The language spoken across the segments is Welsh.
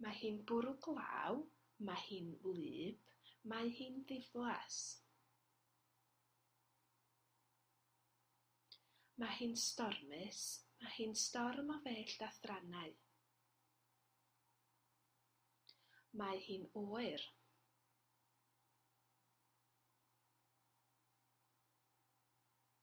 Mae hi'n bwrw glaw, mae hi'n wlyb, mae hi'n ddiflas. Mae hi'n stormus, mae hi'n storm o fellt a thrannau. Mae hi'n oer.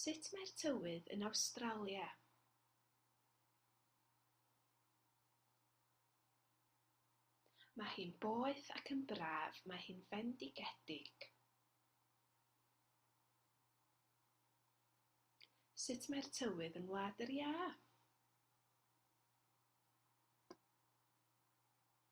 Sut mae'r tywydd yn Awstralia? Mae hi'n boeth ac yn braf, mae hi'n fendigedig. Sut mae'r tywydd yn Wlad yr Iâ?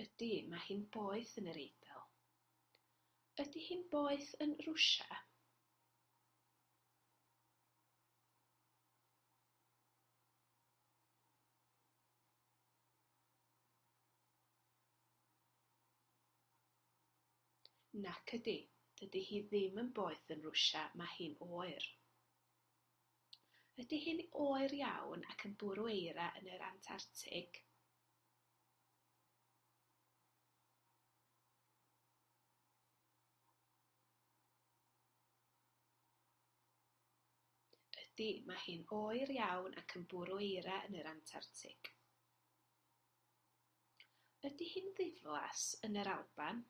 Ydy, mae hi'n boeth yn yr Eidal. Ydy hi'n boeth yn Rwsia? Nac ydy, dydy hi ddim yn boeth yn Rwsia, mae hi'n oer. Ydy hi'n oer iawn ac yn bwrw eira yn yr Antartig? Ydy, mae hi'n oer iawn ac yn bwrw eira yn yr Antartig. Ydy hi'n ddiflas yn yr Alban?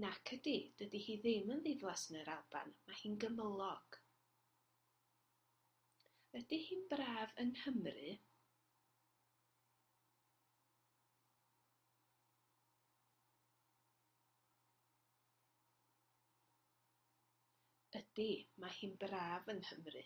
Nac ydy, dydy hi ddim yn ddiflas yn yr Alban, mae hi'n gymylog. Ydy hi'n braf yng Nghymru? Ydy, mae hi'n braf yng Nghymru.